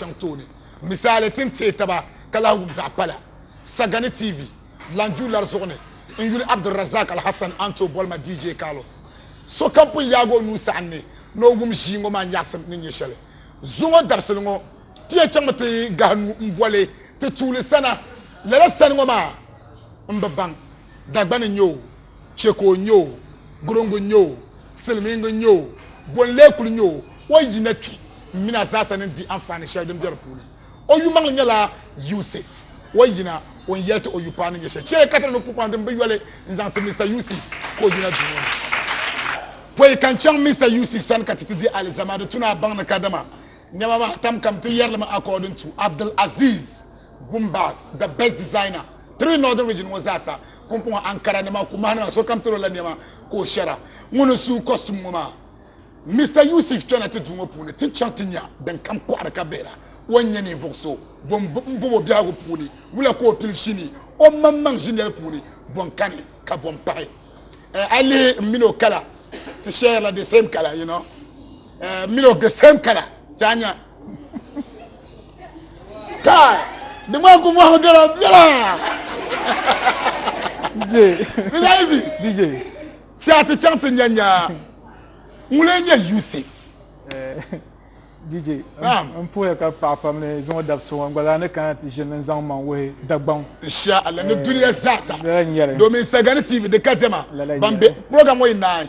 chaŋ tooni. Misali, ti ni teei taba ka lahi wum zaɣ pala Sagani TV lan ju lari zuɣu ni n yuli Abdulrazak Alhassan Anto Bolma DJ Carlos. Sokam pun yaag o nuu saɣim ni ni o wum ʒii ŋɔ maa nyaɣisim ni nyɛ shɛli. Zuŋɔ dabisili ŋɔ, ti yɛn chaŋmi ti gahi nuu m-boli ti tuuli sana. Lala sani ŋɔ maa m bi baŋ Dagbani n-nyɛ o. chɛ ka o nya o, guriŋgu nya o, silimiiŋga nya o, gol n-lee kul nya o, o yi na kpi, m min a zaasa ni n-di anfaani shɛli din be di puuni. O yumaŋli nyɛla Yusif, o yina, o ni yɛli ti o yupaɣ ni nyɛ shɛli. Chɛ ka ti niŋdi pupaŋ din bi yoli n-zaŋ ti Mista Yusif ka o yina duu ŋɔ ni. Pɔi ka n chaŋ Mista Yusif sani ka ti ti di alizama, di tu ni a baŋ ni kadama nɛma maa tam kam ti yɛri li mi according to Abdulaziz Gumbaz, the best designer, three Northern Region ŋɔ zaasa. Pumpɔŋɔ ankara nima, kumahi nima sokam tiri o la nɛma ka o shɛra. Ŋun n suu kɔstum ŋɔ maa. Mista Yusif kpɛna ti duu ŋɔ puuni ti chaŋ ti nya din kam kɔɣiri ka bihira. O n-nyɛ ninvuɣ so bɔ m-bɔb o biɛhigu puuni. Wula ka o pili shini o maŋmaŋ ʒiniɛl puuni, bɔ n-kani ka bɔ m-pahi? Eh, a lihi m min o kala ti shɛrila the same kala, you know. Eh, m min o the same kala, ti a nya. kai di ŋmaa ku mɔhimi gala biɛla DJ Bilayizi DJ ti a ti chaŋ ti nya nya ŋuli n-nyɛ Yusuf eh, DJ n puhiya ka paɣa pam ni zuŋɔ dabi so ŋɔ gbalaa ni kana ti ʒini n-zaŋ maŋ wuhi Dagbaŋ insha Allah ni eh, duniya zaasa domin Sagani TV di ka diɛma ban be program ŋɔ yi naai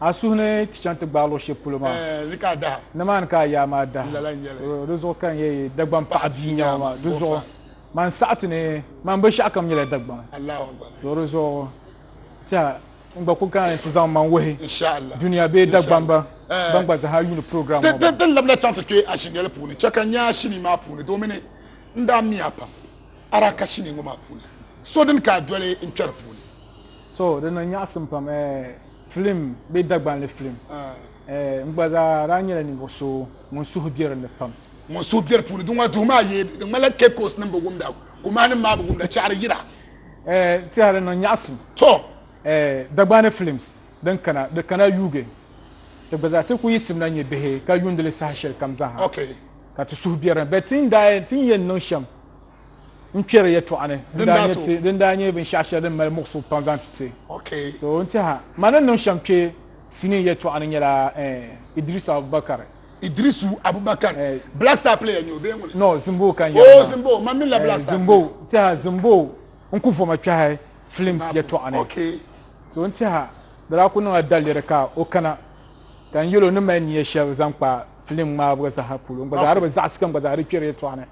A suhu ni ti chaŋ ti gbaai luɣ shɛli polo maa, nimaani ka a yaa maa dahi. Di zuɣu ka n yɛn yi Dagbaŋ paɣa bia nyɛma maa. Di zuɣu man saɣi ti ni man binshɛɣu kam nyɛla Dagbaŋ. To di zuɣu tɛha n gba kuli kana ni ti zaŋ man wuhi dunia bee Dagbamba ban gba zaha yuuni program ŋɔ maa. Din labina chaŋ ti kpe ashinyeli puuni, chɛ ka n nya ashinii maa puuni domini n daa miya pam a daa ka shinii ŋɔ maa puuni. So din ka a doli n kpɛri puuni. To di niŋ nyaɣisim pam eh, filim bee Dagbanli filim eh, n gba zaa daa nyɛla ninvuɣu so ŋun suhu be di ni pam. Ŋun suhu be di puuni, di ŋɔ duhi maa yee di ŋmanila Cape Coast nim bi wumda, Kumahi nim maa bi wumda, chɛɣiri yira. Eh, tiɛha di niŋ nyaɣisim. To. Eh, Dagbanli filims din kana, di kana yuugi ti gba zaa, ti ku yiɣisimla nyɛ bihi ka yuundili saha shɛli kam zaaha. Okay. Ka ti suhu be di ni, but ti ni daa, ti ni yɛn niŋ shɛm n kpɛri yɛltɔɣa ni din daa nyɛ binshaɣu shɛli din mali muɣisigu pam zaŋ ti ti so n tiɛha ma ni niŋ shɛm kpɛ sinii yɛltɔɣa ni nyɛla eh, idrisu abubakar idrisu abubakar eh. black star player nyɛ o bee ŋuni no zimbo ka n oh, zimbo ma minila black star zimbo tiɛha zimbo n ku voma kpɛhi films yɛltɔɣa ni so n tiɛha di daa ku niŋla daliri ka o kana ka n yɛlo ni mali niya shɛli zaŋ kpa filim ŋmaabu zaha polo n gba zaa di bi zaɣisi ka n gba zaa di kpɛri yɛltɔɣa ni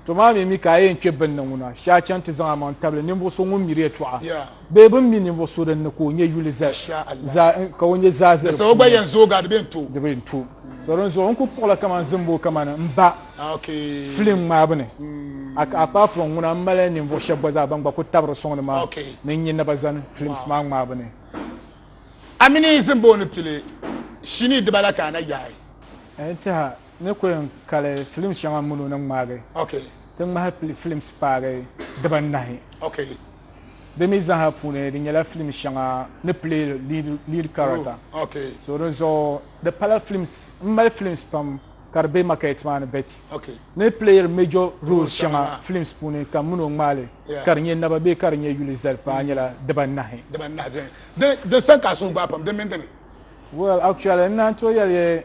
To maa mi mi ka a yɛn kpe bini ni ŋuna, shee a chaŋ ti zaŋ amaŋ tabili ninvuɣ so ŋun miri yɛtɔɣa bee bɛn mi ninvuɣ so din ni ka o nyɛ yuli zaa ni, ka o nyɛ zaa zi di puuni. Di bɛn to. To dinzuɣu n kul kpuɣila kaman zimbu kamani m ba filim ŋmaabu ni, a ka a kpaai furɔŋ ŋuna m mali ninvuɣ shɛb gba zaa bɛn gba kul tabiri sɔŋ ni maa ni n nya naba zani filims maa ŋmaabu ni. A mini zimbu ni pili shinii dibala ka a na yaai? N tiɛha ni ku yɛn kali filim shɛŋa mini o ni ŋmaagi ti ŋmahi pili filims paagi dibanahi. Di mi zaaha puuni di nyɛla filim shɛŋa ni pili lead character. So di zuɣu di pala filims m mali filims pam ka di be market maa ni bet ni playiri major roles shɛŋa filims puuni ka mini o ŋmaali ka di nyɛ naba bee ka di nyɛ yuli zali paai nyɛla dibanahi. Well actually n naan tooi yɛli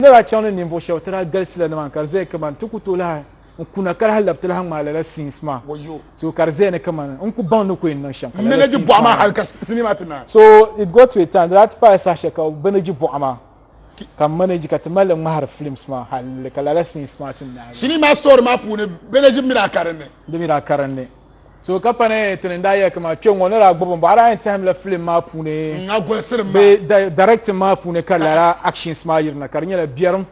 N ni daa chaŋ ni ninvuɣ shɛb ti daa galisi la ni maa ka di zaya kaman ti ku tooi lahi n kuna ka lahi lab ti lahi ŋmaai lala scenes maa so ka di zaya ni kaman n ku baŋ ni ku yɛn niŋ shɛm ka lala scenes maa maa ni so it got to a time di daa ti paai saha shɛli ka bɛ ni ji buɣa maa ka m manage ka ti mali li ŋmahiri films maa hal nili ka lala scenes maa ti naai sinii maa story maa puuni bɛ ni ʒi mi daa karinli di mi daa karinli so ka pa ni tini n daa yɛli kama kpɛ ŋɔ ni daa gbubi bɔɣa daa yɛn tɛhim la filim maa puuni bee directing maa puuni ka lala actions maa yirina ka di nyɛla biɛrim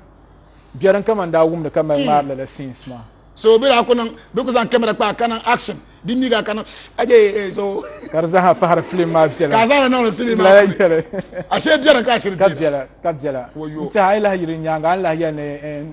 biɛrim kama n daa wumdi ka mali ŋmaari lala scenes maa so bi daa ku niŋ bi ku zaŋ kamera kpa ka niŋ action di mi gaa ka niŋ aje so ka di zaha pahari filim maa viɛla ka zaŋ niŋdi filim maa lala viɛla ashe biɛrim ka ashiri ka viɛla ka viɛla n tiɛha a yi lahi yiri nyaanga a ni lahi yɛli ni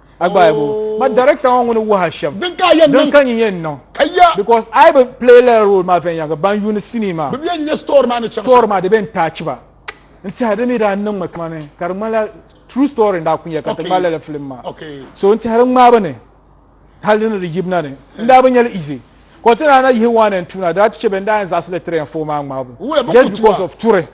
a gba ayi bo ma director ŋɔ ŋuni wuhi ashɛm din ka yɛn niŋ ka nyɛ niŋ kaya because ayi bi play la role maa viɛnyɛliŋga ban yuuni sinii maa bi bɛ nyɛ store maa ni chaŋ store maa di bɛ n taachi ba n tiɛha di mi daa niŋmi kamani ka di ŋmanila true story n daa ku nyɛ ka ti ŋmalila la film maa so n tiɛha di ŋmaa bi ni hali ni di yibina ni n daa bi nyɛli easy ka ti daa na yihi one and two na daa ti chɛ bɛn daa yɛn zaɣasili three and four maa ŋmaabu just because of turi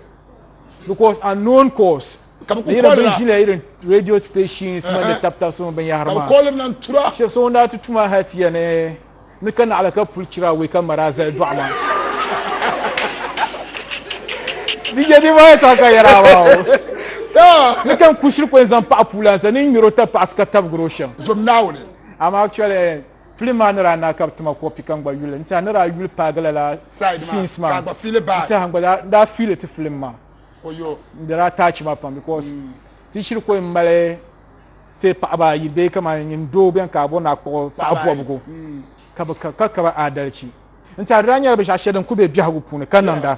because unknown cause ka bi yɛrɛ bin ʒila irin radio stations man ni tabi tabi so binyahari maa kɔlim na tura shɛba so ŋun daa ti tuma hali ti yɛni ni ka naɣala ka puli chira wee ka mara zali dɔɣu maa di jɛ di maa ta ka yɛra maa o ni kan kushiri kɔni zaŋ paɣa puula sa ni ŋmɛro ta paɣasi ka tabigiro shɛm zom naawuni amma actually film maa ni daa na ka bi tuma kɔpi ka n gba yuli n tiɛha ni daa yuli paagila la scenes maa n tiɛha n gba daa fiili ti film maa n bela attach maa pam because mm. ti shiri ko n mali ti paɣaba ayi bee kamani nyin doo bɛn ka abɔ naa kpuɣi paɣa bɔbigu mm. ka bi ka ka ba adalci n tiɛhi daa nyɛla binshaɣu shɛli din ku bɛ biɛhigu puuni ka niŋda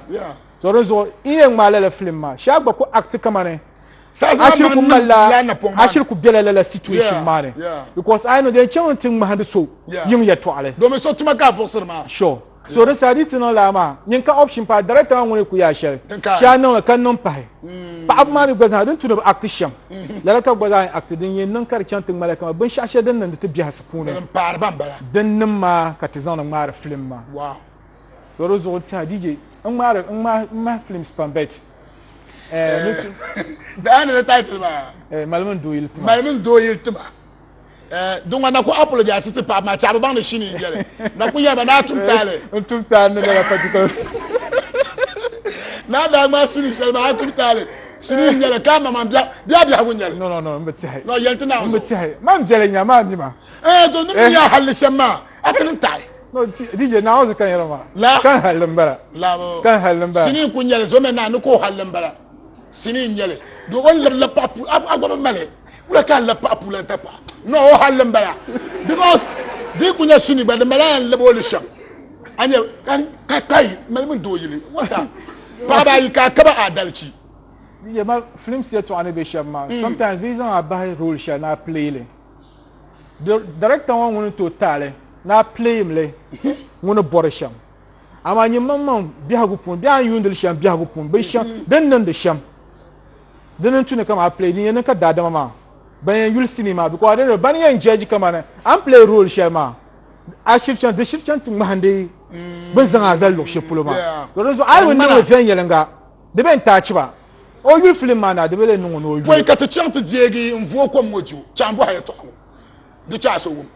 to di zuɣu n yɛn ŋmaa lala filim maa shee gba ku act kamani ashiri ku malila ashiri ku bɛla lala situation maa ni because ayi no din chaŋ ti ŋmahindi so yiŋ yɛtɔɣali domin so tuma ka a buɣisiri maa sure So di saa di ti niŋ laa maa nyin ka option pahi director maa ŋuni ku yaa shɛli shɛli a niŋli ka niŋ pahi mm. paɣaba maa mi gba zaa din tu ni bi act shɛm mm-hmm. lala ka gba zaa yɛn act din yɛn niŋ ka di chaŋ ti ŋmalila kama binshɛɣu shɛli din niŋdi ti biɛhasi puuni din niŋ maa ka ti zaŋdi ŋmaari film maa so di zuɣu tiha DJ n ŋmaari n ŋmahi films pam bet eh, eh, daa ni title maa eh, malimin dooyili tima malimin dooyili tima Eh, dunga na ku apologize ti paɣaba maa chaɣaba baŋ ni shini yi biɛli na ku yaba naa tum taali n tum taali ni lala patikol naa daa ŋmaa shini shɛli maa a tum taali shini n nyɛli ka ma man biɛɣu biɛɣu biɛhigu n nyɛli no no no n bi tiɛhi no yɛli ti naawuni n bi tiɛhi man viɛli nya maa mi ma eh to nim eh. nya halli shɛm maa a ti niŋ taɣi no dije naawuni kan yɛra maa la kan halli n bala la kan halli n bala shini n ku nyɛli zo mɛ naa ni ka o halli n bala shini n nyɛli do o lirila paɣa pu a gba bi mali wula ka n la paɣa pulan ta paɣa no o halli n bala because di ku nyɛ shini gba di mala yan lab o li shɛm a nyɛ ka kai mali min doo yili wata paɣaba ayi ka a kaba adalci DJ ma films yɛtɔɣa ni bɛ shɛm maa mm. sometimes bɛ zaŋ a bahi role shɛli ni a play li director ŋɔ ŋuni to taali ni a play mi li ŋuni bɔri shɛm amaa nyini maŋ maŋ biɛhigu puuni biɛhi n yuundili shɛm biɛhigu puuni bin shɛm mm. din niŋdi shɛm din n tuni kama a play din yɛn niŋ ka daadama maa ban yɛn yuli sinii maa because adin ban yɛn jɛji kama ni a ni play role shɛli maa a shiri chaŋ di shiri chaŋ ti ŋmahindi mm. bin zaŋ a zali luɣu shɛli polo maa di zuɣu a yi niŋdi viɛnyɛlinga di bɛ n taa chiba o yuli filim maa na di bɛ lee niŋ o ni o yuli ka ti chaŋ ti deegi n vuo kom ŋo ju chaŋ bɔha yɛtɔɣa ŋo di chaɣa so wum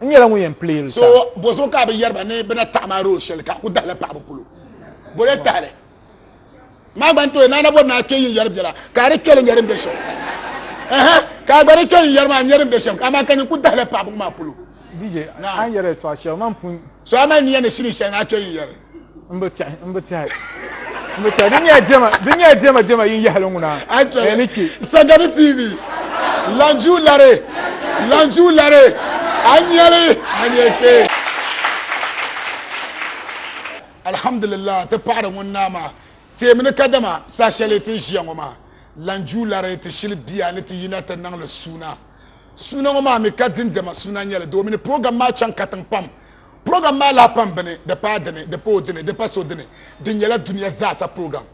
n nyɛla ŋun yɛn pili yili so bo so ka bi yɛriba ni bi na taɣi maa rool shɛli ka ku dahila paɣaba polo bo yɛ tahili maa gba n tooi naana bɔri naa kpɛ yin yɛri biɛla ka a di kpɛli nyɛri n bɛ shɛm ka a gba di kpɛ yin yɛri maa nyɛri n bɛ shɛm amaa ka nyin ku dahila paɣaba maa polo DJ an yɛri tɔɣa shɛli man pun so a mali niya ni shini shɛli ŋa a kpɛ yin yɛri n bi tɛhi n bi tɛhi n bi tɛhi di nyɛla dɛma di nyɛla dɛma dɛma yin yahali ŋuna ni kpɛ sagani tv lanju lari lanju lari a nyɛli a nyɛ kpɛ alhamdulillah ti paɣari ŋun naa maa teemi ni kadama saa shɛli ti ʒiya ŋɔ maa lanju lari ti shili bia ni ti yina ti niŋli suuna suuna ŋɔ maa mi ka dindɛma suuna nyɛli doomini program maa chaŋ katiŋ pam Program maa lahi pam bini, di paai dini, di pa o dini, di pa so dini. Di nyɛla dunia zaasa program.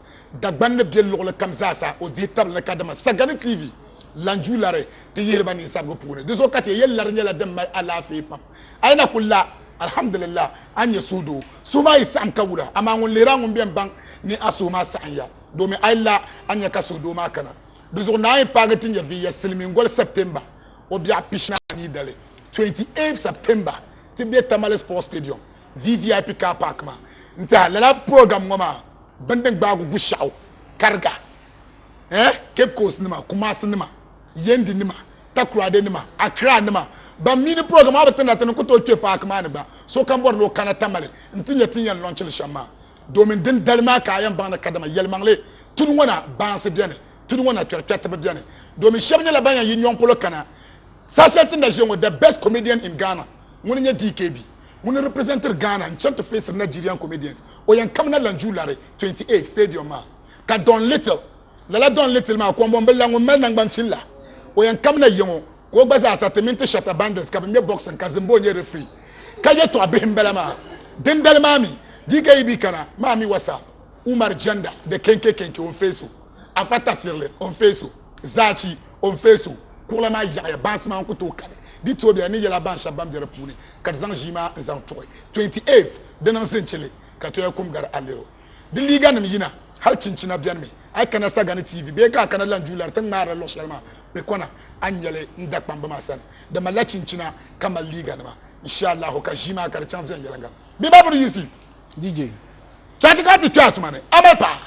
Dagban ni be luɣili kam zaasa, o dihi tabili ni kadama Sagani TV lan ju lari ti yihiri ba ninsabigu puuni. Di zuɣu ka ti yɛli lari nyɛla din mali alaafee pam. A yi na ku la, alhamdulillah, a ni nyɛ suhudoo. Suhu maa yi saɣim ka wula, amaa ŋun lihir a ŋun bɛn baŋ ni a suhu maa saɣim ya, domin a yi la, a ni nya ka suhudoo maa kana. Di zuɣu Naawuni paagi ti nyɛviya silimiingoli September. o biɛɣu pishina anii dali, 28 September, ti be Tamale Sports Stadium, VVIP Car Park maa n-tɛha lala program ŋɔ maa bini din gbaagi Gushaɣu, Kariga, eh, Cape Coast nima, Kumasi nima, Yendi nima, Takoradi nima, Accra nima ban mi ni program maa bi ti na ti ni ku tooi kpe paaki maa ni gba sokam bɔri ni o kana Tamale n-ti nya ti ni yɛn launch li shɛm maa. Domin din dali maa ka a yɛn baŋ ni kadama yɛlimaŋli tudu ŋɔ na baansi beni, tudu ŋɔ na kpɛrikpɛriti bi beni. Domin shɛba nyɛla ban yɛn yi nyɔŋ polo kana. Saha shɛli ti ni na ʒiya ŋɔ, the best comedian in Ghana, ŋuni n-nyɛ DKB. Ŋuni representiri Ghana n-chani ti feesiri Nigerian comedians. O yɛn kamina Lanju Lari 28 stadium maa ka Don Little, lala Don Little maa, kɔmbɔmbila ŋun mali naŋgban fin la, o yɛn kamina ya ŋɔ. ka o gba zaa sa ti mini ti Shatta Bandits ka bɛ ŋmɛ boxing ka Zimbo nyɛ referee. Ka yɛltɔɣa bihi m-bala maa. Dindali maa mi, DKEB kana maa mi wa sa Umar Jenda de Kenke Kenke o ni face o, Afa Tafirli o ni face o, Zachi o ni face o. Kuɣila maa yaɣiya bansi maa n-ku tooi kali di toobu ya ni yɛla ban shɛba ban be di puuni ka di zaŋ ʒii maa n-zaŋ tuɣi 28th di niŋ Zinchili ka Toya kum gari Alero. Di liiganim yina hali chinchina beni mi. A yi kana Sagani TV bee ka a kana Lanjulari ti ni ŋmaarila luɣ shɛli maa bɛ kɔna a ni nyɛli n dakpamba maa sani. Di malila chinchina ka mali liiganima. Inshaallahu ka ʒii maa ka di chaŋ viɛnyɛliŋga. Bɛ babu ni yiɣisi. DJ. Chati ka a ti kpe a tuma ni. A mali paɣa?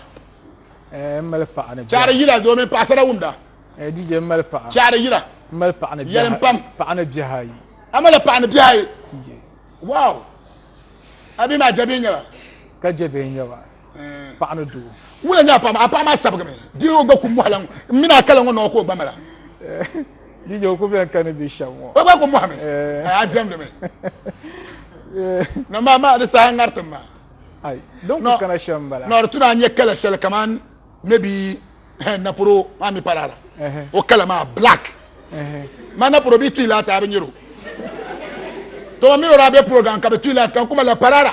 Eh, m mali paɣa ni biɛhi. Chati yila di o mini paɣasara wumda. Eh, DJ, m mali paɣa. Chati yila. M mali paɣa ni biɛhi ayi. Paɣa ni biɛhi ayi. A malila paɣa ni biɛhi ayi? DJ. Wow! A bihi maa jɛbihi n-nyɛ ba? Ka jɛbihi n-nyɛ ba. paɣa ni doo wula nyɛ a paɣa maa a paɣa maa sabigimi dii o gba ku mɔhila ŋɔ n mini a kala ŋɔ nɔɔ ka o gba mala DJ o ku bɛn kani bi shɛm ŋɔ o gba ku mɔhimi a diɛmdi mi na maa maa di saha ŋaritim maa ayi don ku kana shɛm bala na di tuna a nyɛ kala shɛli kaman maybe naporo maa mi parara o kala maa black ma naporo bi tuyi laati a bi nyɛro to mi mi o daa bɛ program ka bi tuyi laati kan kuma la parara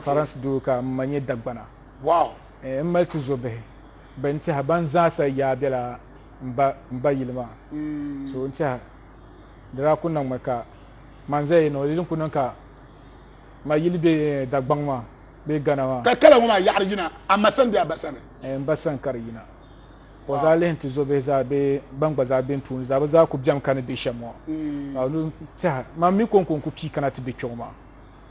Faransi duu ka m ma nyɛ Dagbana. Eh, m mali tizobihi bɛn tɛha ban zaasa yaa bela m ba m ba yili maa. Mm. So n tɛha di daa ku niŋmi ka man zaya ni o yili n ku niŋ ka ma yili be eh, Dagbaŋ maa bee Gana maa. Ka kala ŋɔ maa yaɣiri yina a ma sani bee a ba sani? Eh, m ba sani ka di yina. Ka o zaa lihi n tizobihi zaa bee ban gba zaa be n tuuni zaa bɛ zaa ku bemi ka ni be shɛm ŋɔ. Mm. Ka o lu n tɛha man mi kɔŋko n ku pii kana ti be kpɛŋɔ maa.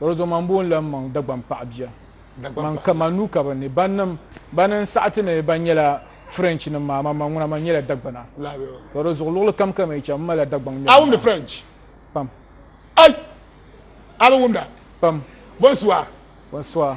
Bɔro zuɣu man boo n-lan maŋ Dagbaŋ paɣa bia man ka man nuu ka bɛ ni. Bannim bani n-saɣi ti ni ban nyɛla French nim maa, man man ŋuna man nyɛla Dagbana. Bɔro zuɣu luɣili kam ka mi cham, m malila Dagbaŋ ŋmɛbu maa. A wumdi French? Pam. Ai! A bi wumda? Pam. Bonsoir. Bonsoir.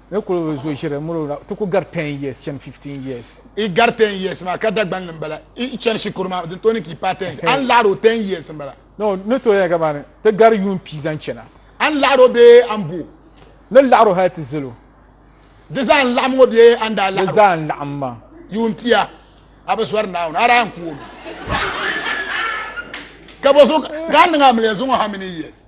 ni kuli bi zo ʒiri miri o la, ti ku gari ten years chani fifteen years. Yi gari ten years maa ka Dagban ni m-bala, yi chani shikuru maa di tooi ni ka yi paai ten years. A ni laɣiri o ten years m-bala. No, ni tooi yɛli kamani ti gari yuun pia zaŋ chana. A ni laɣiri o bee a ni bo o? Ni laɣiri o hali ti zali o. Di zaa n-laɣim ŋɔ bee a ni daa laɣiri o? Di zaa n-laɣim maa. Yuun pia, a bi zɔri Naawuni, a daa yɛn ku o mi. Ka bɔso ka a niŋ a miliya zuŋɔ how many years?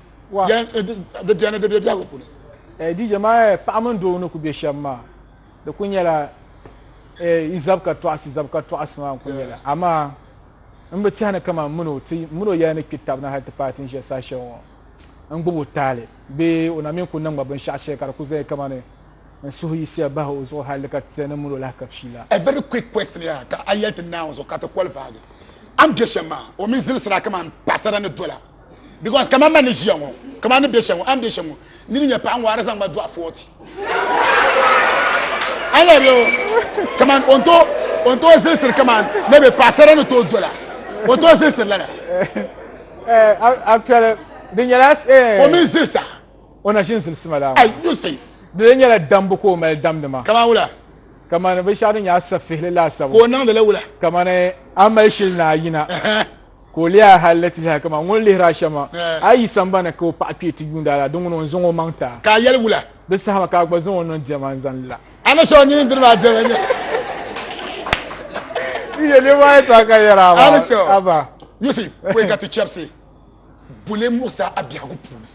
wa eh, di beni di be biɛgu puuni eh, DJ maa eh, paɣa mini doo ni ku be shɛm maa di ku nyɛla yi zab ka tɔɣisi zab ka tɔɣisi maa n ku nyɛla amaa n bi tɛhi ni kama n mino ti mino yɛli ni kpi tabi na hali ti paai ti ni ʒe saha shɛli ŋɔ n gbubi o taali bee o na mi ku niŋ ma binshɛɣu shɛli ka di ku zaya kama ni n suhu yisiya bahi o zuɣu hali ka ti ni mino lahi ka fiila a very quick question ya ka a yɛli ti naawuni zuɣu ka ti kɔli baagi a ni be shɛm maa o mi zilisira kama n paɣasara ni dola because kama ma ni ʒiya ŋɔ kama ni bɛ shɛm ŋɔ a ni bɛ shɛm ŋɔ ni ni nyɛ paɣa ŋɔ a di zaŋ ma dɔɣi fɔɔti a lɛbi o kaman o ni to o ni to zilisiri kaman ni bɛ paɣasara ni to dola o to zilisiri lana eh, a piɛli di nyɛla eh. o mini zilisa o na ʒi n zilisi ma la ayi you see di lee nyɛla dambu ka o mali damdi ma kaman wula kamani binshaɣu din nyɛ asafihili laasabu ka o niŋdili wula kamani a mali shili ni a yina Ka o leei a hal ni ti yahi kaman ŋun lihir a shɛm maa. A yi sambani ka o paɣa kpee ti yuund a la, di ŋuni o ni zaŋ o maŋ ti a? Ka a yɛli, Wula? Di saha maa ka a gba zaŋ o niŋ diɛma n-zani la. A ni so nyin diri maa diɛma n-nyɛ li. Di nyɛ niriba ayi tɔha ka yɛri a maa. A ba. You see, kɔɛ ka ti chɛbisi buli muɣisi a biɛhigu puuni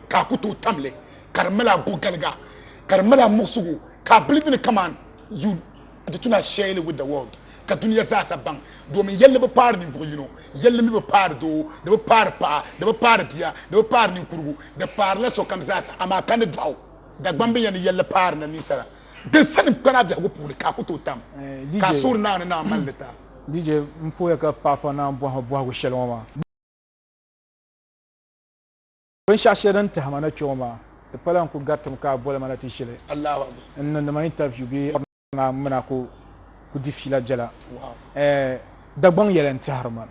ka a ku tooi tam li ka di mali a gogaliga ka di mali a muɣisigu ka a bili bini kaman you Di tuma shɛli with the world ka dunia zaasa baŋ domin yɛlli bi paari ninvuɣ yino, yɛlli mi bi paari doo, di bi paari paɣa, di bi paari bia, di bi paari ninkurigu, di paarila sokam zaasa, amaa ka ni dɔɣi o Dagbambiya ni yɛlli paarila ninsala din sani m-kpana biɛhigu puuni ka a ku tooi tam ka a suhuri Naawuni ni Naa mali li ta. DJ, M pooya ka paɣa pa naan bɔhi ma bɔhigu shɛli ŋɔ maa. Binshɛɣu shɛli din tahi ma na kpɛŋɔ maa, di pala n ku garitim ka a boli ma na ti ʒili n niŋdi ma intaviu bee a maa m mi na ku ku di fiila biɛla. Ɛɛh Dagbaŋ yɛla n tɛhiri ma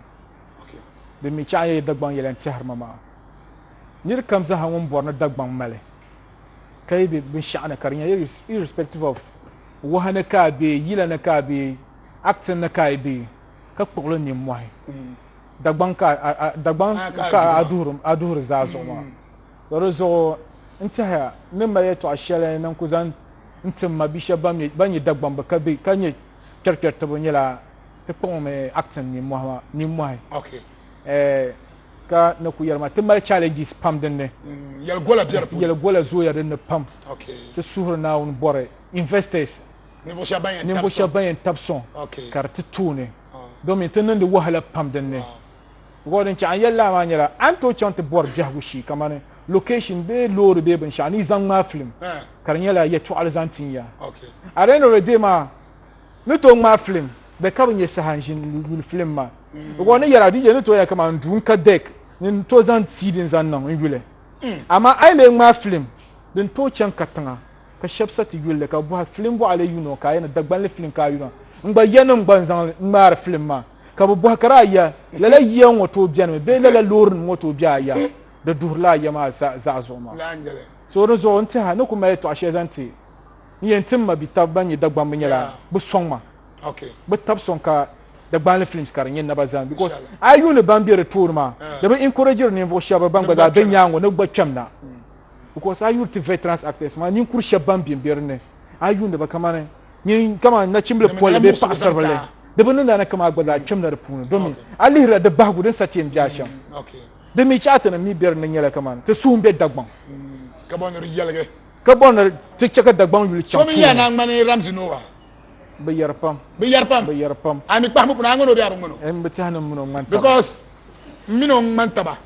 din mi chaɣiya yi Dagbaŋ yɛla n tɛhiri ma maa, nir kam zaa ha ŋun bɔri ni Dagbaŋ mali ka yi be binshɛɣu ni ka di nya irrespective of wahi ni ka a be, yila ni ka a be, acting ni ka a yi be ka kpuɣi li nimmɔhi. dagbaŋ ka dagbaŋ ka a duhiri a duhiri zaa zuɣu maa to di zuɣu n tɛhaya n ni mali yɛtɔɣa shɛli ni n ku zaŋ n tim ma bia shɛba ban nyɛ dagbambi ka be ka nyɛ kpɛrikpɛritiba nyɛla ti kpuɣimi acting nimmɔhi ka ni ku yɛlima ti mali challenges pam dinni mm, yɛli gola bɛ di yɛli gola zooya dinni pam ti suhuri naawuni bɔri investors ninvuɣu shɛba ban yɛn tabi sɔŋ ka di ti tooni domin ti niŋdi wahala pam din ni gɔɔ din chɛɣa n yɛli laa maa nyɛla a ni tooi chaŋ ti bɔri biɛhigu shee kamani location bee loori bee binshɛɣu ni yi zaŋ ŋmaai film ka di nyɛla yɛtɔɣili zaŋ tin ya at the end of the day maa ni tooi ŋmaai film bɛ ka bi nyɛ saha n ʒini yuli film maa gɔɔ ni yɛra DJ ni tooi ya kamani duu n ka dek ni n tooi zaŋ CD n zaŋ niŋ n yuli amaa a yi lee ŋmaai film din tooi chaŋ ka tiŋa ka shɛb sa ti yuli li ka bɔhi filim bɔɣili yuno ka a yɛn Dagbanli filim ka a yuna n gba ya niŋ gba n zaŋ ŋmaari filim maa ka bi bɔhi kara a ya lala yiya ŋɔ tooi bɛni mi bee lala loori nim ŋɔ tooi bɛ a ya di duhirila a ya maa zaɣa zuɣu maa so di zuɣu n tiha ni ku mali tɔɣa shɛli zaŋ ti n yɛn tim ma bi tabi ban nyɛ Dagbambi nyɛla bi sɔŋ ma bi tabi sɔŋ ka Dagbanli films ka di nyɛ naba zani because a yuuni ban bɛ di tooni maa di bi encouragiri ninvuɣu shɛba ban gba zaa bɛ nyaango ni gba kpɛm na because a yuli ti veterans actors maa ninkuri shɛba ban bɛ bɛ dinni a yuuni ba kamani nyin kamani nachimbili pɔlli bee paɣasaribili di bi niŋda ni kama gba zaa kpɛmda di puuni domi a lihirila di bahigu din sa ti yɛn bɛ a shɛm di mi chaati nim mi bɛ dinni nyɛla kamani ti suhun bɛ dagbaŋ ka bɔ ni di yɛligi ka bɔ ni ti chɛ ka dagbaŋ yuli chaŋ puuni yaa naa ŋmani ramzi nowa bi yɛri pam bi yɛri pam bi yɛri pam a mi kpahimi kuna a ŋmani o bɛ a bi ŋmani o n bi tiɛhi ni n mini o ŋmani taba because n mini o ŋmani taba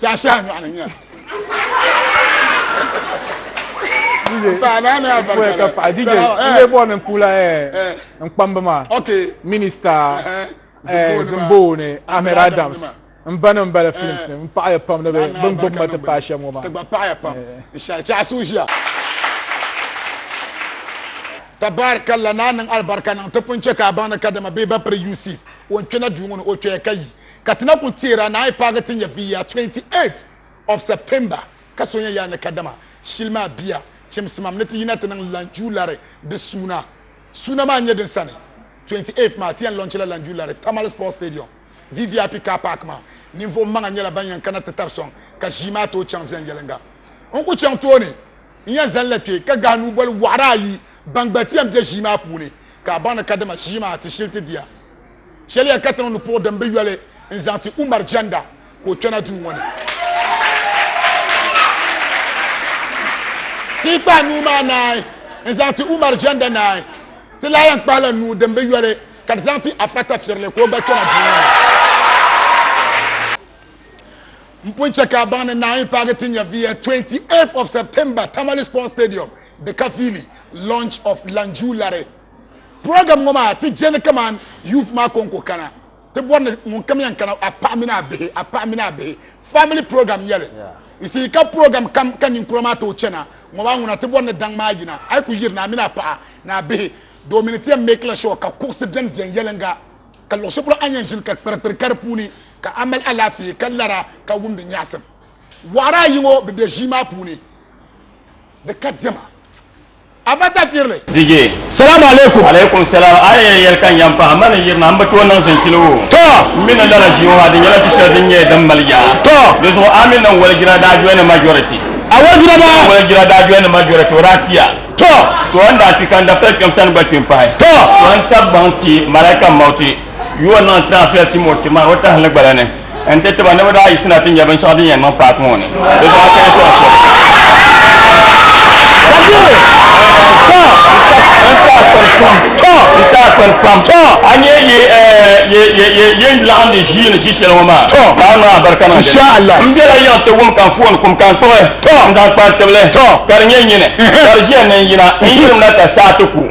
Chashaha nyɔɣu ni nyɛla nkpamba maa minista zimboo ni ahmed adams n ba nim bala films ni n paɣaya pam ni bin gbubi ma ti paai shɛm ŋɔ maa tabaarikalla naa niŋ alibarika niŋ ti pun chɛ ka a baŋ ni kadama bee ba piri UC o ni kpɛna duu ŋɔ ni o kpɛya ka yi Ka ti na kul teer a naai paagi ti nya bia yaa 28th of September ka so nya yaa ni kadama shili maa bia chimsimam ni ti yina ti niŋ Lanjuu Lari di suuna. Suuna maa n-nyɛ din sani 28th maa ti yɛn lɔnchila Lanjuu Lari Tamale Sports Stadium VVIP Car Park maa. Ninvuɣ maŋa nyɛla ban yɛn kana ti tari sɔŋ ka ʒii maa tooi chaŋ viɛnyɛliŋga. N ku chaŋ tooni n-yɛn zalila kpe ka gahi nuuboli wɔɣiri ayi ban gba ti yɛn be ʒii maa puuni ka a baŋ ni kadama ʒii maa ti shili ti diya. Shɛliya katiŋ ni puɣi din bi yoli n zaŋ ti Umar Janda ka o kpɛna duu ŋɔ ni. Ti yi kpahi nuu maa naai n zaŋ ti Umar Janda naai, ti lahi yɛn kpahila nuu din bi yoli ka ti zaŋ ti Afa Tafirili ka o gba kpɛna duu ŋɔ ni. M pun chɛ ka a baŋ ni Naawuni paagi ti nya VS 28 of September, Tamale Sports Stadium, Dikafili, launch of Lanju Lare. Program ŋɔ maa ti je ni kaman youth maa kɔŋko kana ti bɔri ni ŋunkam yɛn kana a paɣa mini a bihi a paɣa mini a bihi family program nyɛli you see ka program kam ka ninkura maa tooi chana ŋɔ maa ŋuna ti bɔri ni daŋ maa yina a yi ku yiri ni a mini a paɣa ni a bihi doomi ni ti yɛn make la sure ka kuɣusi bɛni viɛn yɛlinga ka luɣushɛli polo a ni yɛn ʒini ka kpirikpiri ka di puuni ka a mali alaafee ka lara ka wumdi nyaɣisim waɣara ayi ŋɔ bi bɛ ʒii maa puuni di ka diɛma. A ba tafiri li. DJ, Salaam alaikum. Alaikum salaam. A yɛn yɛli ka n yɛn pahi ma ni yirina m bi tooi niŋ zinchili woo. Tɔ! M mi ni lala ʒii ŋɔ ha di nyɛla du shɛli din nyɛ din mali yaa. Tɔ! Di zuɣu a mi niŋ waligira daa joini majority. A waligira daa? A waligira daa joini majority o daa kpiya. Tɔ! Tɔ n daa kpi ka n dapita kpɛm sani gba kpi m pahi. Tɔ! Tɔ n sabbaŋ kpi Malaika mauti. Yuwa niŋ ti afia Timoti maa o tahili gbala ni n-ti ti ba ni bɛ daa yiɣisina ti nya binshɛɣu din yɛn niŋ paaki ŋɔ ni. Di daa kaya tɔbu shɛm. N saa kpani pam a ni yɛn yi yen laɣindi ʒiini ʒi shɛli ŋɔ maa. Ka a niŋ a barika niŋ dini. M bela yiŋ ti wum ka n foon kum ka n kpuɣi n zaŋ kpari tibili ka di nyɛ nyini ka di ʒiya ni n yina n yilimina ka saa ti ku.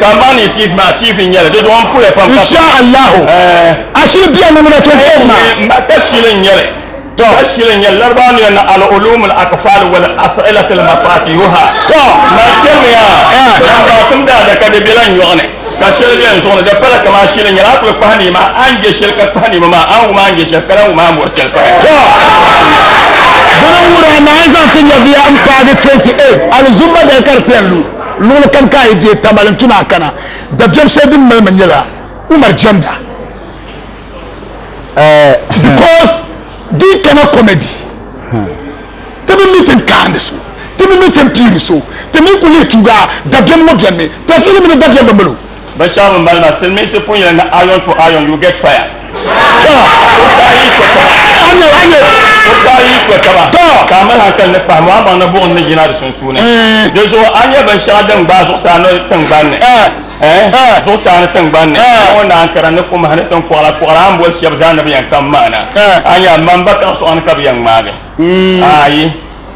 Ka ma ni tiivi maa tiivi nyɛli di zuɣu n puya pam insha allahu ashili biya ni muna tun tɛm ma ka shili nyɛli to ka shili nyɛli laribaa ni na al ulum al akfal wal as'ilat al mafatihuha to ma kɛmi ya dan ba sim da da ka de bela nyɔɣuni ka shili bɛ n zuɣu ni di pala kama shili nyɛli a kuli kpahi ni ma an je shili ka kpahi ni ma maa an wuma an je shili ka lan wuma an bori shili pahi to bana wura na an zaŋ ti nyɛviya n paagi 28 alizumma dali ka di tɛn lu Luɣili kam ka a yi deei Tamale n-tu ni a kana, dabiɛm shɛli din mali ma nyɛla Umar jɛmda. Because di yi kana comedy, ti bi mi tin kaandi so, ti bi mi tin piiri so, ti mi kuli leei tuugi a, dabiɛm ŋɔ beni mi, tafili mini dabiɛm bi mali o. Binshɛɣu n bala maa, Silimiinsi pun yɛli ni iron to iron you get fire. Tɔ! O daa yi to taba. O daa yi to taba. Ka a mali hankali ni pahi mɔɣamaŋ ni buɣim ni yina di sunsuuni. Di zuɣu a ni nya binshɛɣu din gbaai zuɣusaa ni tiŋgbani ni, ɛɛh, zuɣusaa ni tiŋgbani ni, a ŋɔ ni ankara ni kumahi ni tiŋkɔɣila kɔɣila a ni boli shɛba zaa ni bɛ yɛn kpam maana. A nya, mani ba kaɣisɔɣu ni ka bɛ yɛn ŋmaagi a yi.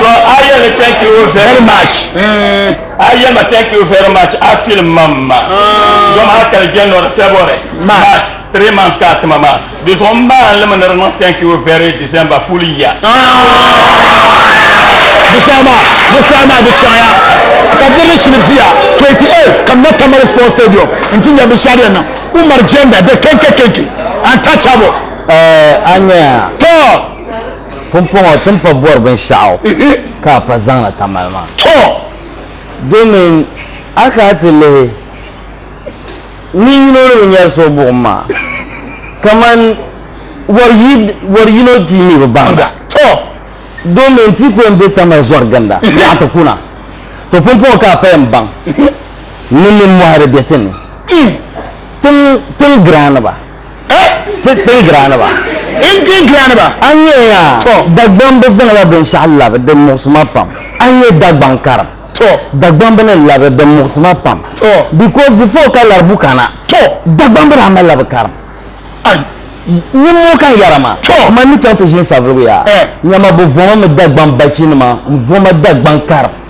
To a yɛli ni thank you very much a yɛli ma thank you very much a feel mam ma dom a kali January February March three months ka a tima maa di zuɣu n maa limi ni di niŋ thank you very December full year Bisama, Bisama di chaŋya ka dirili shini bia 28 ka mɛ Tamale Sports Stadium n ti nyɛ binshɛɣu din niŋ Umar Jenda the kenke kenke untouchable. Eh, a nya ya. Tɔ! Pumpɔŋɔ ti ni pa bɔri binshɛɣu ka a pa zaŋna tamali maa. Tɔ! Domin a kana ti lihi nin yino ni bi nyari so buɣim maa, kaman wari yino ti mi bi baŋda. Tɔ! Domin ti kɔŋ be tamali zɔri ginda yaɣa ti kuna. Tɔ! Pumpɔŋɔ ka a pa yɛn baŋ ni nimmɔhi di be ti ni. Tiŋ giraaniba! Ti tin giraani ba. N tin giraani ba. A ni nyɛ ya, Dagbaŋ bi zaŋla binshɛɣu labi din muɣisi ma pam. A ni nyɛ Dagbaŋ karim, Dagbaŋ bi ni labi din muɣisi ma pam. Because before ka laribu kana, Dagbaŋ bi daa mali la bi karim. Niŋmoo ka n yɛra ma, ma ni chaŋ ti ʒini saviligu ya, nyama bi voma mi Dagbaŋ bachi nima, n voma Dagbaŋ karim.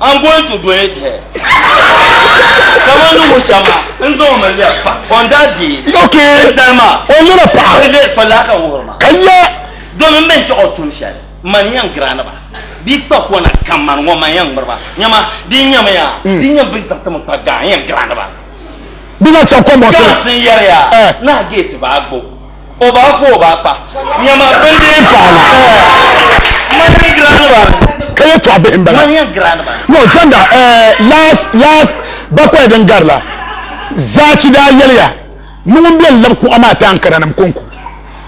I'm going to donate her. Kama ni ŋɔ chama n zaŋ mi lɛb pa on that day. Okay. N dali ma. O nyɛla paɣa. N lɛb pa laa ka n wuhiri ma. Ka ya. Domin mɛn chaɣ o tum shɛli man yɛn girani ba di kpa kɔna kam man ŋɔ man yɛn ŋmiri ba nyɛma di nyɛmi ya di nyɛ bi zaŋ ti mi kpa gaa yɛn girani ba. Bi na chaŋ kɔmbɔŋ sini. Girls n yɛri ya naa geesi ba agbo. O ba fu o ba kpa nyama bɛn dee paana Manya Grand Band. Ka yɛ tɔɣa bihi n bala. Manya Grand Band. No chanda eh, last last bakwaya din gari la zaachi daa yɛliya ni ŋun bɛn labi kuɣa maa ti Ankara nim konko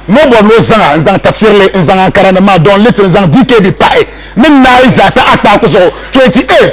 ni o bɔri ni o zaŋa n zaŋ tafirili n zaŋ Ankara nim maa Don Little n zaŋ DKB pahi ni naai zaasa Akpaaku zuɣu 28th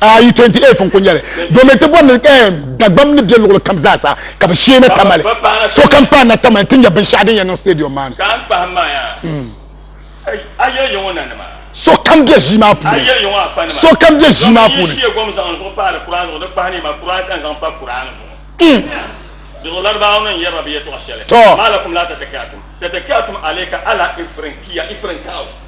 Ayi 28 n-kuli nyɛli domin ti bɔri ni eh, Dagbam ni be luɣili kam zaasa ka bɛ shee ni tamali sokam paai natamani ti nya binshɛɣu din yɛn niŋ stadium maa ni. Sokam be ʒii maa puuni. Sokam be ʒii maa puuni. Tɔ.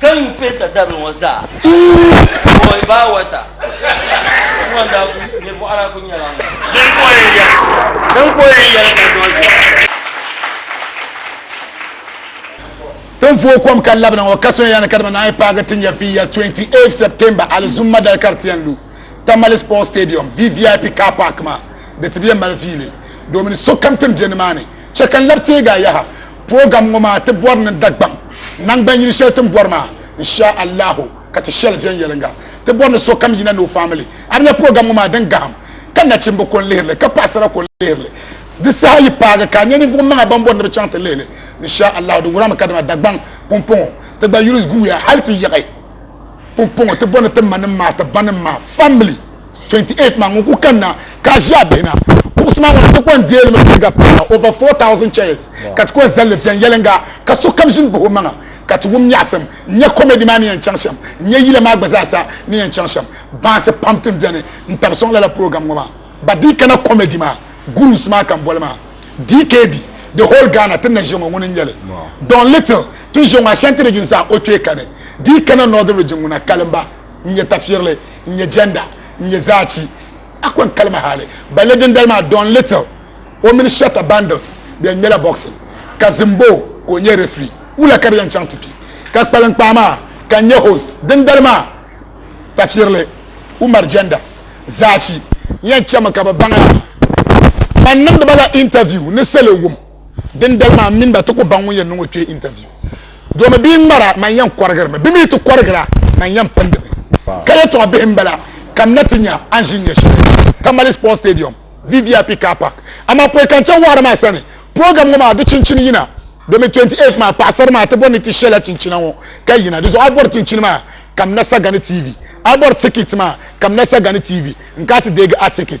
Ka yuui penta dabili ŋɔ zaa bɔi baa wata ŋɔ n-daa ku nir bɔɣiri a ku nyɛla ŋun din ku o yɛn yɛli din ku o yɛn yɛli ka dɔɔ ʒiya. Tin vooi kom ka labina ŋɔ ka soya ni ka dama naanyi paagi ti nya viiya 28 September alizumma dali ka di ti yɛn lu Tamale Sports Stadium, VVIP Car Park maa di ti bi yɛn mali viili domin sokam tin be nimaani Chɛ ka n labi teegi a yaha. Program ŋɔ maa ti bɔri ni Dagbaŋ naŋgban yili shɛli tin bɔri maa Insha Allahu ka ti shɛli viɛnyɛliŋga. Ti bɔri ni sokam yina ni o family a di nya program ŋɔ maa din gahim ka nachimba ko n-lihiri li ka paɣisara ko n-lihiri li. Di saha yi paagi ka a nya ninvuɣ maŋa ban bɔri ni bɛ chaŋ ti lihi li Insha Allahu di wurami kadama Dagbaŋ pumpɔŋɔ ti gba yuli guuya hal ti yiɣi pumpɔŋɔ ti bɔri ni ti manim maa ti banim maa family. 28 maa ŋun ku kanna ka a ʒi a bihi na kuɣusi maa ŋun ti kɔŋ deeli mi piliga paai over 4,000 chairs ka ti kɔŋ zalli viɛnyɛliŋga ka sokam ʒini bahi o maŋa ka ti wum nyaɣisim n nya comedy maa ni yɛn chaŋ shɛm n nya yila maa gba zaa sa ni yɛn chaŋ shɛm baansi pam tin beni n tabi sɔŋ lala program ŋɔ maa ba di kana comedy maa gurus maa ka n boli maa DKB the whole Ghana ti na ʒiya ŋɔ ŋuni n nyɛli Don Little ti ʒiya ŋɔ Ashanti region zaa o kpee kani di kana Northern region ŋuna kalimba n nyɛ tafirili n nyɛ jɛnda n nyɛ zaachi a kɔŋ kalima hali balli dindali maa Don Little o mini Shatta Bundles bɛn ŋmɛla boxing ka Zimbo ka o nyɛ referee wula ka di yɛn chaŋ ti kpi ka kpalinkpaa maa ka n nyɛ host dindali maa tafirili Umar jɛnda zaachi yɛn chɛmi ka bi baŋ a man niŋdiba la interview ni salo wum din dali maa mini ba ti ku baŋ ŋun yɛn niŋ o kpee interview domi bia ŋmara man yɛn kɔrigirimi bɛ mi ti kɔrigira man yɛn pindimi ka yɛtɔɣa bihi m-bala ka m na ti nya a ni ʒi nyɛ shɛli Tamale Sports Stadium VVIP Car Park amaa pɔi ka n chaŋ wɔɣiri maa sani program ŋɔ maa di chinchini yina domi 28 maa paɣisara maa ti bɔri ni ti shɛla chinchina ŋɔ ka yina di zuɣu a bɔri chinchini maa ka m na Sagani TV a bɔri ticket maa ka m na Sagani TV n ka ti deegi a ticket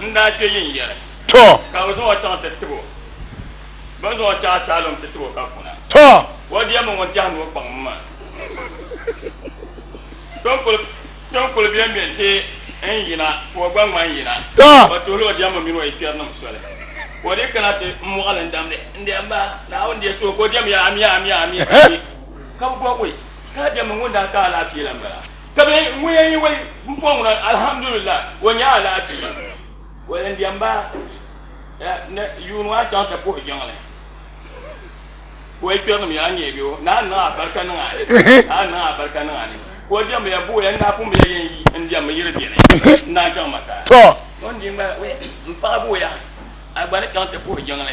N daa kpe yi ni yɛri. Tɔ! Ka bɛ zaŋ o chaŋ ti tib o. Bɛ ni zaŋ o chaŋ asaalom ti tib o ka kuna. Tɔ! O diɛm ni ŋun tɛhi ni o kpaŋ m maa. Ton kuli be m-be nti n yina ka o gba ŋma n-yina. Tɔ! O tuhila o diɛmmi mini o yi kpɛrinim soli. Ka o dii kana ti n mɔɣili n-damdi, N diɛmba, Naawuni di so ka o diɛm yɛli, Amia! Amia! Amia! Ka bɛ bɔbi o, Ka a diɛmmi ŋun daa ka alaafee la m-bala. Ka bɛ ŋun yɛn yi wali bipuɣin ŋuna alhamdulillahi o nya alaafee o yɛn diɛm ba ni yuuni maa chaŋ ti puhi jiŋli ka o yi kpɛrinim ya nyɛ bɛ o naa niŋ abarika niŋ a ni a niŋ abarika niŋ a ni ka o diɛmbu ya buɣi ya n daa pun bi ya yɛn yi n diɛmmi yiri bɛni n daa chaŋ ma ka o ni di gba n paɣa buɣi ya a gba ni chaŋ ti puhi jiŋli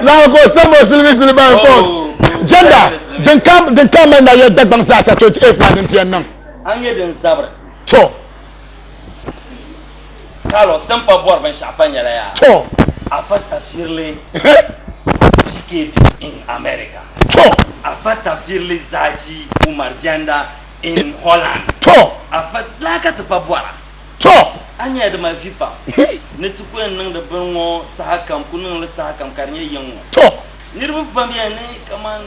Lahi ko sabo silimi silimi ban ko. Jenda din kam din kam na ya dagban sa sa to e plan din tiyan nan. An ye din zabra. To. Carlos din pa bɔri binshɛɣu pa nyɛla yaa to a pa tafsirili PKP in America to a pa tafsirili Zaji Umar Janda in Holland to a pa laa ka ti pa bɔra to a nyɛla di mali vi pam ni ti ku yɛn niŋdi bini ŋɔ saha kam ku niŋli saha kam ka di nyɛ yiŋ ŋɔ to niriba pam yɛn ni kamani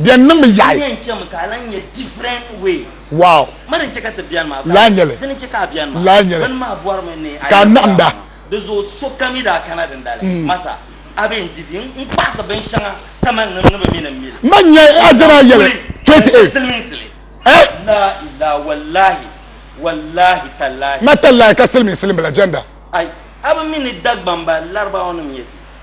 Bɛ niŋmi yaɣi. Wow. Laa nyɛli. Laa nyɛli. Ka a naɣimda. Ma nyɛ ajana yɛli 28. Ma tallahi ka silimiin silim bila jɛnda.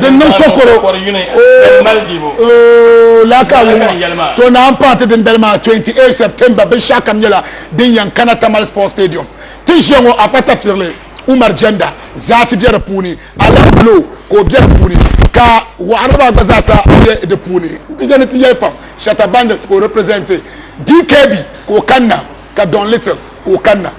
Din niŋ sokoro o o laaka wumma to naan pahi ti dindali maa 28 September binshɛɣu kam nyɛla din yɛn kana Tamale Sports Stadium ti ʒiya ŋɔ Akpa Tafsirli Umar Jenda zaati bɛ di puuni Alain Blo ka o bɛ di puuni ka waɣiriba gba zaasa bɛ di puuni n ti jɛni ti yɛli pam Shatta Bandits ka o represent DKB ka o kanna ka Don Little ka o kanna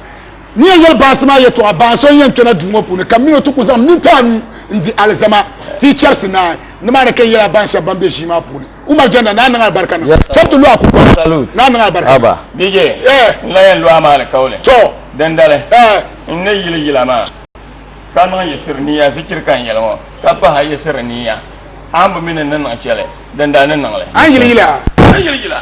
Ni yɛn yɛli baasi maa yɛtɔɣa, Baŋ so n-yɛn kpɛna duu ŋɔ puuni, ka m min o ti ku zaŋ minti anu n-di alizama ti yi chɛrisi naai. Nimaani ka n yɛli a baŋ shɛba ban be ʒii maa puuni, Umar Janda, Naa niŋ alibarika niŋ a. Shɛba ti lu a kurugu, Naa niŋ alibarika niŋ a. DJ, n lahi yɛn lu a maa alikauli. Dindali, n ni yili yila maa, ka niŋ yiɣisiri niya zikiri ka n yɛli ŋɔ, ka pahi a yiɣisiri niya, a ni bi mi ni n ni niŋ shɛli, dindali ni niŋ li. A ni yili yila? N ni yili yila.